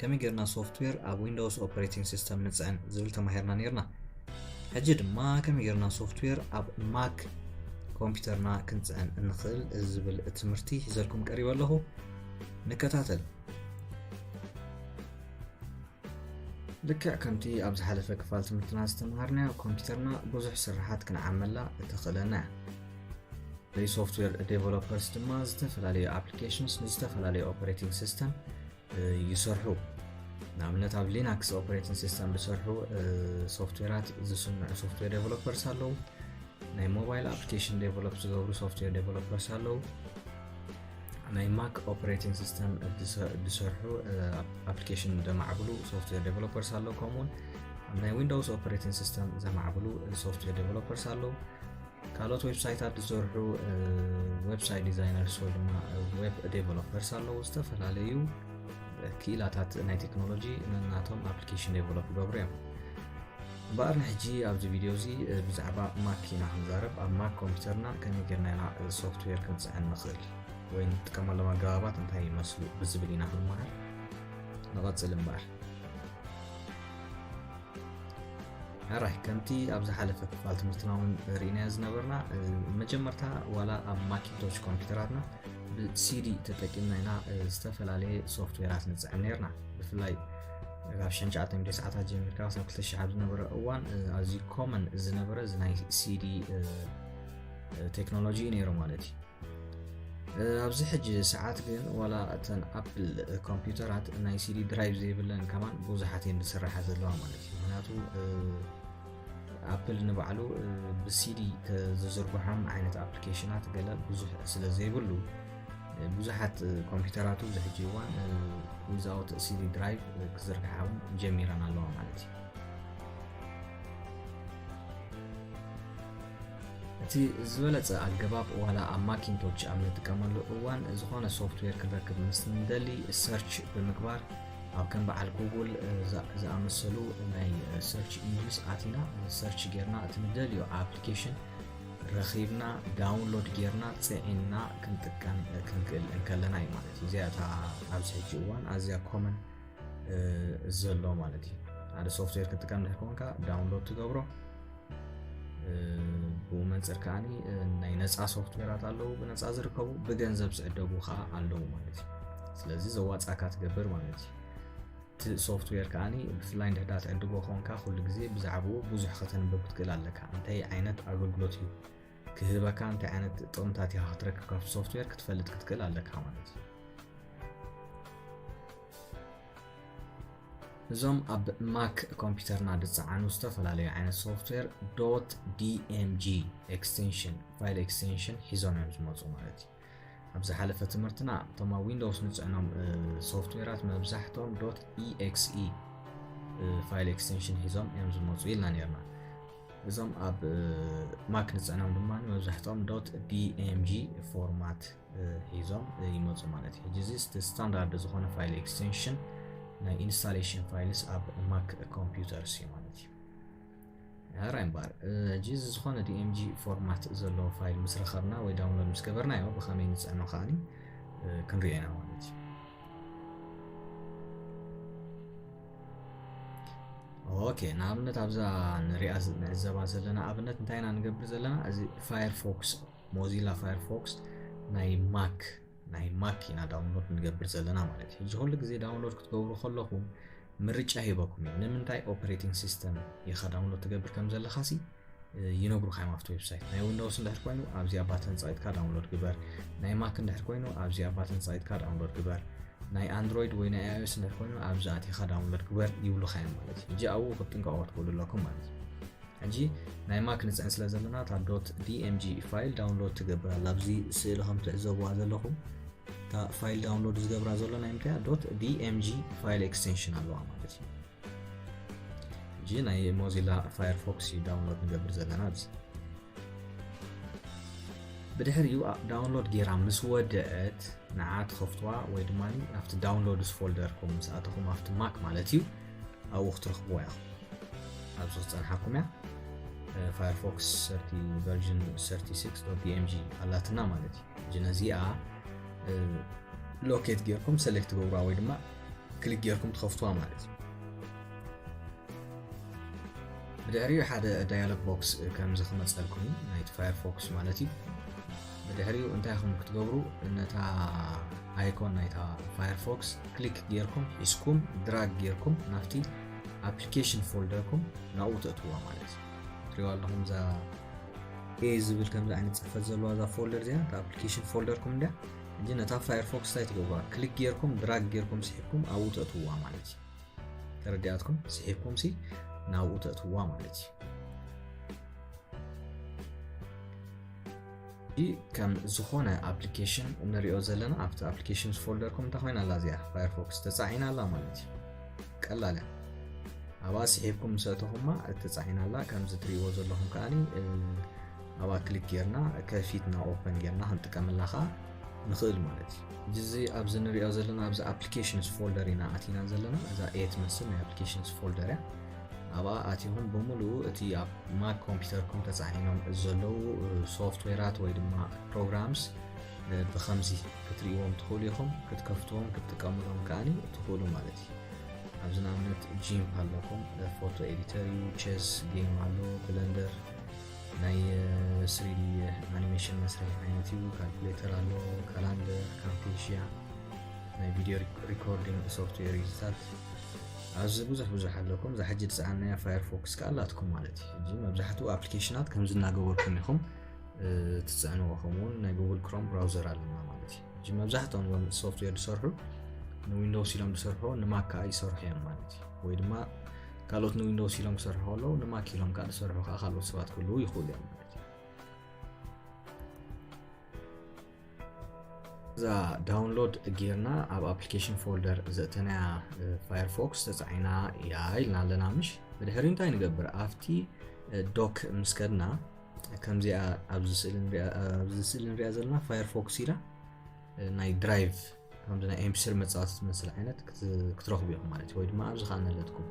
ከመይ ጌርና ሶፍትዌር ኣብ ዊንዶውስ ኦፕሬቲንግ ሲስተም ንጽዕን ዝብል ተማሂርና ነይርና ሕጂ ድማ ከመይ ጌርና ሶፍትዌር ኣብ ማክ ኮምፒውተርና ክንጽዕን እንኽእል ዝብል ትምህርቲ ሒዘልኩም ቀሪበ ኣለኹ ንከታተል ልክዕ ከምቲ ኣብ ዝሓለፈ ክፋል ትምህርትና ዝተምሃርናዮ ኮምፒውተርና ብዙሕ ስራሓት ክንዓመላ እተኽእለና እያ ሶፍትዌር ዴቨሎፐርስ ድማ ዝተፈላለዩ ኣፕሊኬሽንስ ንዝተፈላለዩ ኦፐሬቲንግ ሲስተም ይሰርሑ። ንኣብነት ኣብ ሊናክስ ኦፕሬቲንግ ሲስተም ዝሰርሑ ሶፍትዌራት ዝስንዑ ሶፍትዌር ዴቨሎፐርስ ኣለዉ ናይ ሞባይል ኣፕሊኬሽን ዴቨሎፕ ዝገብሩ ሶፍትዌር ዴቨሎፐርስ ኣለዉ ናይ ማክ ኦፕሬቲንግ ሲስተም ዝሰርሑ ኣፕሊኬሽን ዘማዕብሉ ሶፍትዌር ዴቨሎፐርስ ኣለዉ ከምኡውን ናይ ዊንዶውስ ኦፕሬቲንግ ሲስተም ዘማዕብሉ ሶፍትዌር ዴቨሎፐርስ ኣለዉ ካልኦት ዌብሳይታት ዝሰርሑ ዌብሳይት ዲዛይነርስ ወይ ድማ ዌብ ዴቨሎፐርስ ኣለዉ ዝተፈላለዩ ክኢላታት ናይ ቴክኖሎጂ ነናቶም ኣፕሊኬሽን ዴቨሎፕ ይገብሩ እዮም እምበኣር ንሕጂ ኣብዚ ቪድዮ እዚ ብዛዕባ ማክ ኢና ክንዛረብ ኣብ ማክ ኮምፒውተርና ከመይ ጌርና ኢና ሶፍትዌር ክንፅዕን ንኽእል ወይ ንጥቀመሎም ኣገባባት እንታይ ይመስሉ ብዝብል ኢና ክንመሃር ንቐፅል እምበኣር ሕራይ ከምቲ ኣብ ዝሓለፈ ክፋል ትምህርትና እውን ርኢናዮ ዝነበርና መጀመርታ ዋላ ኣብ ማኪንቶሽ ኮምፒውተራትና ብሲዲ ተጠቂምና ኢና ዝተፈላለየ ሶፍትዌራት ንፅዕን ነርና ብፍላይ ካብ ሸንሸዓተ ሚድዮ ሰዓታት ጀሚርካ ክሳብ ክልተ ሽሕ ኣብ ዝነበረ እዋን ኣዝዩ ኮመን ዝነበረ እዚ ናይ ሲዲ ቴክኖሎጂ እዩ ነይሩ ማለት እዩ ኣብዚ ሕጂ ሰዓት ግን ዋላ እተን ኣፕል ኮምፒውተራት ናይ ሲዲ ድራይቭ ዘይብለን ከማን ብዙሓት እየን ዝስራሓ ዘለዋ ማለት እዩ ምክንያቱ ኣፕል ንባዕሉ ብሲዲ ዝዝርግሖም ዓይነት ኣፕሊኬሽናት ገለ ብዙሕ ስለ ዘይብሉ ብዙሓት ኮምፒውተራቱ እዚ ሕጂ እዋን ዊዛውት ሲዲ ድራይቭ ክዝርግሓ እውን ጀሚረን ኣለዋ ማለት እዩ እቲ ዝበለጸ ኣገባብ ዋላ ኣብ ማኪንቶች ኣብ ንጥቀመሉ እዋን ዝኾነ ሶፍትዌር ክንረክብ ምስ ንደሊ ሰርች ብምግባር ኣብ ከም በዓል ጉጉል ዝኣመሰሉ ናይ ሰርች ኢንጅንስ ኣቲና ሰርች ጌርና እቲ ንደልዮ ኣፕሊኬሽን ረኺብና ዳውንሎድ ጌርና ፅዒንና ክንጥቀም ክንክእል እንከለና እዩ ማለት እዩ እዚኣ እታ ኣብዚ ሕጂ እዋን ኣዝያ ኮመን እዚ ዘሎ ማለት እዩ ሓደ ሶፍትዌር ክጥቀም ድሕር ኮንካ ዳውንሎድ ትገብሮ ብኡ መንፅር ከዓ ናይ ነፃ ሶፍትዌራት ኣለዉ ብነፃ ዝርከቡ ብገንዘብ ዝዕደጉ ከዓ ኣለዉ ማለት እዩ ስለዚ ዘዋፃካ ትገብር ማለት እዩ እቲ ሶፍትዌር ከዓ ብፍላይ እንድሕዳ ትዕድጎ ኮንካ ኩሉ ግዜ ብዛዕባኡ ብዙሕ ከተንብብ ክትክእል ኣለካ እንታይ ዓይነት ኣገልግሎት እዩ ክህበካ እንታይ ዓይነት ጥቕምታት ኢኻ ክትረክብ ካብቲ ሶፍትዌር ክትፈልጥ ክትክእል ኣለካ ማለት እዩ እዞም ኣብ ማክ ኮምፒውተርና ዝፀዓኑ ዝተፈላለዩ ዓይነት ሶፍትዌር ዶት ዲኤምጂ ኤክስቴንሽን ፋይል ኤክስቴንሽን ሒዞም እዮም ዝመፁ ማለት እዩ ኣብ ዝሓለፈ ትምህርትና እቶም ኣብ ዊንዶውስ ንፅዕኖም ሶፍትዌራት መብዛሕትኦም ዶት ኤክስ ፋይል ኤክስቴንሽን ሒዞም እዮም ዝመፁ ኢልና ነርና እዞም ኣብ ማክ ንፅዕኖም ድማ መብዛሕትኦም ዶት ቢኤምጂ ፎርማት ሒዞም ይመፁ ማለት እዩ ሕጂ እዚ ስታንዳርድ ዝኾነ ፋይል ኤክስቴንሽን ናይ ኢንስታሌሽን ፋይልስ ኣብ ማክ ኮምፒውተርስ እዩ ማለት እዩ ራይምባር ሕጂ እዚ ዝኾነ ዲኤምጂ ፎርማት ዘለዎ ፋይል ምስ ረኸብና ወይ ዳውንሎድ ምስ ገበርናዮ ብኸመይ ንፅዕኖ ከዓኒ ክንሪኦ ኢና ማለት እዩ ኦኬ ንኣብነት ኣብዛ ንሪኣ ንዕዘባ ዘለና ኣብነት እንታይ ኢና ንገብር ዘለና እዚ ፋየርፎክስ ሞዚላ ፋየርፎክስ ናይ ማክ ናይ ማክ ኢና ዳውንሎድ ንገብር ዘለና ማለት እዩ። እዚ ኩሉ ግዜ ዳውንሎድ ክትገብሩ ከለኹም ምርጫ ሂበኩም እዩ። ንምንታይ ኦፕሬቲንግ ሲስተም ኢኻ ዳውንሎድ ትገብር ከም ዘለኻ ሲ ይነግሩካ እዮም ኣብቲ ዌብሳይት። ናይ ዊንዶውስ እንድሕር ኮይኑ ኣብዚኣ ባተን ጻኢትካ ዳውንሎድ ግበር። ናይ ማክ እንድሕር ኮይኑ ኣብዚኣ ባተን ጻኢትካ ዳውንሎድ ግበር። ናይ ኣንድሮይድ ወይ ናይ ኣይኦኤስ እንድሕር ኮይኑ ኣብዚ ኣቲኻ ዳውንሎድ ግበር ይብሉካ እዮም ማለት እዩ። እጂ ኣብኡ ክትጥንቀቑ ክትክእሉ ኣለኩም ማለት እዩ። ሕጂ ናይ ማክ ንጽዕን ስለ ዘለና እታ ዶት ዲኤምጂ ፋይል ዳውንሎድ ትገብር ኣላ ኣብዚ ስእሊ ከም ትዕዘብዋ ዘለኹም እታ ፋይል ዳውንሎድ ዝገብራ ዘሎ ናይ ምንታይ ዶት ዲኤምጂ ፋይል ኤክስቴንሽን ኣለዋ ማለት እዩ ሕጂ ናይ ሞዚላ ፋየርፎክስ እዩ ዳውንሎድ ንገብር ዘለና ኣብዚ ብድሕሪኡ ዳውንሎድ ጌራ ምስ ወደአት ንዓ ትኸፍትዋ ወይ ድማ ኣብቲ ዳውንሎድስ ፎልደር ኮም ምስ ኣተኹም ኣብቲ ማክ ማለት እዩ ኣብኡ ክትረኽብዋ ኢኹም ኣብዚ ክፀንሓኩም እያ ፋየርፎክስ ቨርዥን 36.pmg ኣላትና ማለት እዩ ሕጂ ነዚኣ ሎኬት ጌርኩም ሰሌክት ትገብሩዋ ወይ ድማ ክሊክ ጌርኩም ትኸፍትዋ ማለት እዩ ብድሕሪኡ ሓደ ዳያሎግ ቦክስ ከምዚ ክመፀልኩም እዩ ናይቲ ፋየርፎክስ ማለት እዩ ብድሕሪኡ እንታይ ኢኹም ክትገብሩ ነታ ኣይኮን ናይታ ፋየርፎክስ ክሊክ ጌርኩም ሒዝኩም ድራግ ጌርኩም ናብቲ ኣፕሊኬሽን ፎልደርኩም ናብኡ ተእትዋ ማለት እዩ ትሪዋ ኣለኹም እዛ ኤ ዝብል ከምዚ ዓይነት ፅሕፈት ዘለዋ እዛ ፎልደር እዚኣ እታ ኣፕሊኬሽን ፎልደርኩም እንድያ እንጂ ነታ ፋየርፎክስ እንታይ ትገብሩዋ ክሊክ ጌርኩም ድራግ ጌርኩም ስሒብኩም ኣብኡ ተእትውዋ ማለት እዩ ተረዲኣትኩም ስሒብኩም ሲ ናብኡ ተእትውዋ ማለት እዩ ከም ዝኾነ ኣፕሊኬሽን እንሪኦ ዘለና ኣብቲ ኣፕሊኬሽንስ ፎልደርኩም እንታይ ኮይና ኣላ እዚኣ ፋየርፎክስ ተፃዒና ኣላ ማለት እዩ ቀላል እያ ኣብኣ ስሒብኩም ምስ ኣተኹማ እተፃዒና ኣላ ከምዚ ትሪእዎ ዘለኹም ከዓኒ ኣብኣ ክሊክ ጌርና ከፊትና ኦፐን ጌርና ክንጥቀመላ ከዓ ንኽእል ማለት እዩ እዚ ኣብዚ ንሪኦ ዘለና ኣብዚ ኣፕሊኬሽንስ ፎልደር ኢና ኣቲና ዘለና እዛ ኤ ትመስል ናይ ኣፕሊኬሽንስ ፎልደር እያ ኣብኣ ኣቲኹም ብምሉኡ እቲ ኣብ ማክ ኮምፒውተርኩም ተፃዒኖም ዘለዉ ሶፍትዌራት ወይ ድማ ፕሮግራምስ ብከምዚ ክትርእዎም ትኽእሉ ኢኹም ክትከፍትዎም ክትጥቀምሎም ከዓኒ ትኽእሉ ማለት እዩ ኣብዚ ንኣብነት ጂም ኣለኩም ፎቶ ኤዲተር እዩ ቼስ ጌም ኣሎ ብለንደር ናይ ስሪዲ ኣኒሜሽን መስርሒ ዓይነት እዩ ካልኩሌተር ኣሎ ካላንደር ካምፔሽያ ናይ ቪድዮ ሪኮርዲንግ ሶፍትዌር እዩ ዝታት ኣብዚ ብዙሕ ብዙሕ ኣለኩም እዛ ሕጂ ዝሰኣናያ ፋየርፎክስ ከዓ ኣላትኩም ማለት እዩ ሕጂ መብዛሕትኡ ኣፕሊኬሽናት ከምዚ እናገበርኩም ኢኹም ትፅዕንዎ ከምኡውን ናይ ጉግል ክሮም ብራውዘር ኣለና ማለት እዩ ሕጂ መብዛሕትኦም ዞም ሶፍትዌር ዝሰርሑ ንዊንዶውስ ኢሎም ዝሰርሑ ንማክ ከዓ ይሰርሑ እዮም ማለት እዩ ወይ ድማ ካልኦት ንዊንዶውስ ኢሎም ክሰርሑ ከለዉ ንማክ ኢሎም ከዓ ዝሰርሑ ከዓ ካልኦት ሰባት ክህልዉ ይኽእሉ እዮም ማለት እዩ እዛ ዳውንሎድ ጌርና ኣብ ኣፕሊኬሽን ፎልደር ዘእተናያ ፋየርፎክስ ተፃዒና እያ ኢልና ኣለና ምሽ ብድሕሪ እንታይ ንገብር ኣብቲ ዶክ ምስ ከድና ከምዚኣ ኣብዚ ስእሊ ንሪኣ ዘለና ፋየርፎክስ ኢላ ናይ ድራይቭ ከምዚ ናይ ኤምፒስሪ መፃወቲ ዝመስል ዓይነት ክትረኽቡ ኢኹም ማለት እዩ ወይ ድማ ኣብዚ ከዓ ነለትኩም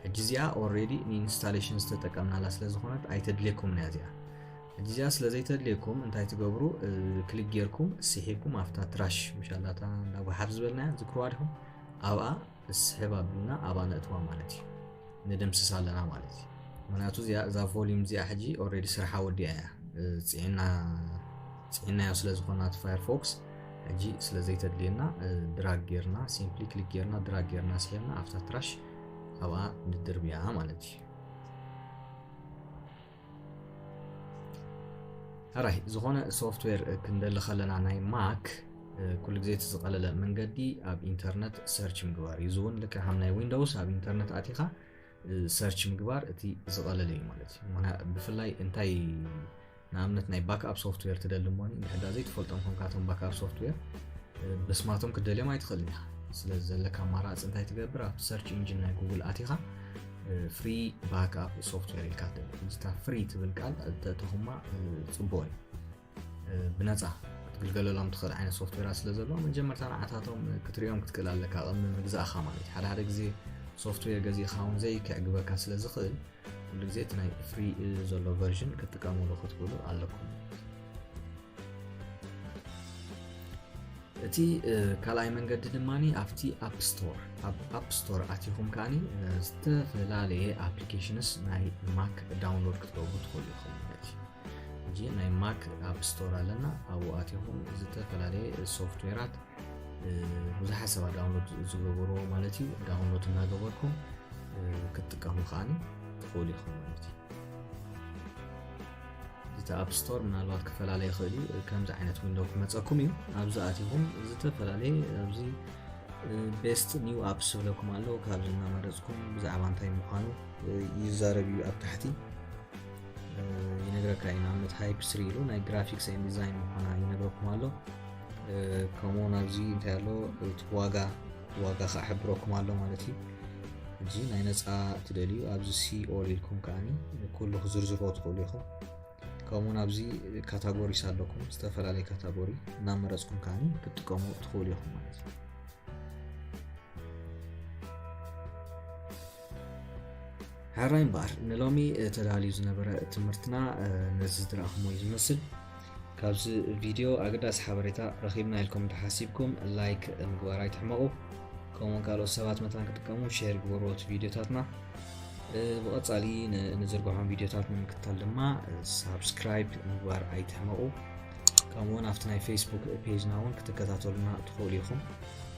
ሕጂ እዚኣ ኦልሬዲ ንኢንስታሌሽን ዝተጠቀምናላ ስለ ዝኾነት ኣይተድልየኩምን እያ እዚኣ ሕጂ እዚኣ ስለ ዘይተድልየኩም እንታይ ትገብሩ ክሊክ ጌርኩም ስሒብኩም ኣብታ ትራሽ ምሻላታ እንዳ ጎሓፍ ዝበልናያ ዝክርዋ ዲኹም ኣብኣ ንስሕብ ኣብልና ኣባ ነእትዋ ማለት እዩ ንድምስስ ኣለና ማለት እዩ ምክንያቱ እዛ ቮሊም እዚኣ ሕጂ ኦልሬዲ ስርሓ ወዲያ እያ ፅዒናዮ ስለዝኮና እቲ ፋየርፎክስ ሕጂ ስለዘይተድልየና ድራግ ጌርና ሲምፕሊ ክሊክ ጌርና ድራግ ጌርና ስሒብና ኣብታ ትራሽ ኣብኣ ንድርብያ ማለት እዩ ሕራይ ዝኾነ ሶፍትዌር ክንደሊ ከለና ናይ ማክ ኩሉ ግዜ እቲ ዝቐለለ መንገዲ ኣብ ኢንተርነት ሰርች ምግባር እዩ እዚ እውን ልክዕ ከም ናይ ዊንዶውስ ኣብ ኢንተርነት ኣቲኻ ሰርች ምግባር እቲ ዝቐለለ እዩ ማለት እዩ ብፍላይ እንታይ ንኣብነት ናይ ባክኣፕ ሶፍትዌር ትደሊ እሞ ንሕዳ ዘይትፈልጦም ኮንካቶም ባክኣፕ ሶፍትዌር ብስማቶም ክደልዮም ኣይትኽእልን ኢኻ ስለዚ ዘለካ ኣማራፂ እንታይ ትገብር ኣብ ሰርች ኢንጂን ናይ ጉግል ኣቲኻ ፍሪ ባክኣፕ ሶፍትዌር ኢልካ ምስታ ፍሪ ትብል ቃል ተተኹማ ፅቡቅ እዩ ብነፃ ክትግልገለሎም ትኽእል ዓይነት ሶፍትዌራት ስለ ዘለዎ መጀመርታ ንዓታቶም ክትሪኦም ክትክእል ኣለካ ቅሚ ምግዛእኻ ማለት ሓደ ሓደ ግዜ ሶፍትዌር ገዚእኻ እውን ዘይክዕግበካ ስለ ዝኽእል ኩሉ ግዜ እቲ ናይ ፍሪ ዘሎ ቨርዥን ክትጥቀምሉ ክትብሉ ኣለኩም እቲ ካልኣይ መንገዲ ድማ ኣብቲ ኣፕ ስቶር ኣብ ኣፕ ስቶር ኣቲኹም ከዓኒ ዝተፈላለየ ኣፕሊኬሽንስ ናይ ማክ ዳውንሎድ ክትገብሩ ትኽእሉ ኢኹም ማለት እዩ ሕጂ ናይ ማክ ኣብ ስቶር ኣለና ኣብኡ ኣቲኹም ዝተፈላለየ ሶፍትዌራት ብዙሓት ሰባት ዳውንሎድ ዝገበሩ ማለት እዩ ዳውንሎድ እናገበርኩም ክትጥቀሙ ከዓኒ ትኽእሉ ኢኹም ማለት እዩ እቲ ኣፕ ስቶር ምናልባት ክፈላለ ይኽእል እዩ ከምዚ ዓይነት ዊንዶ ክመፀኩም እዩ ኣብዚ ኣቲኹም ዝተፈላለየ ኣብዚ ቤስት ኒው ኣፕስ ዝብለኩም ኣሎ ካብዚ እናመረፅኩም ብዛዕባ እንታይ ምዃኑ ይዛረብ እዩ ኣብ ታሕቲ ይነግረካ እዩ ንኣብነት ሃይፕ ስሪ ኢሉ ናይ ግራፊክስ ን ዲዛይን ምዃና ይነግረኩም ኣሎ ከምኡውን ኣብዚ እንታይ ኣሎ እቲ ዋጋ ዋጋ ከዓ ሕብረኩም ኣሎ ማለት እዩ እዚ ናይ ነፃ ትደልዩ ኣብዚ ሲኦል ኢልኩም ከዓ ኩሉ ክዝርዝርዎ ትኽእሉ ኢኹም ከምኡውን ኣብዚ ካታጎሪስ ኣለኩም ዝተፈላለየ ካታጎሪ እናመረፅኩም ከዓ ክትጥቀሙ ትኽእሉ ኢኹም ማለት እዩ ሕራይ እምበኣር ንሎሚ ተዳልዩ ዝነበረ ትምህርትና ነዚ ዝረኣኹሞ እዩ ዝመስል ካብዚ ቪድዮ ኣገዳሲ ሓበሬታ ረኺብና ኢልኩም እንተሓሲብኩም ላይክ ምግባር ኣይትሕመቑ ከምኡውን ካልኦት ሰባት መታን ክጥቀሙ ሸር ግበርዎ እቲ ቪድዮታትና ብቐፃሊ ንዝርግሖም ቪድዮታት ንምክትታል ድማ ሳብስክራይብ ምግባር ኣይትሕመቑ ከምኡውን ኣብቲ ናይ ፌስቡክ ፔጅና እውን ክትከታተሉና ትኽእሉ ኢኹም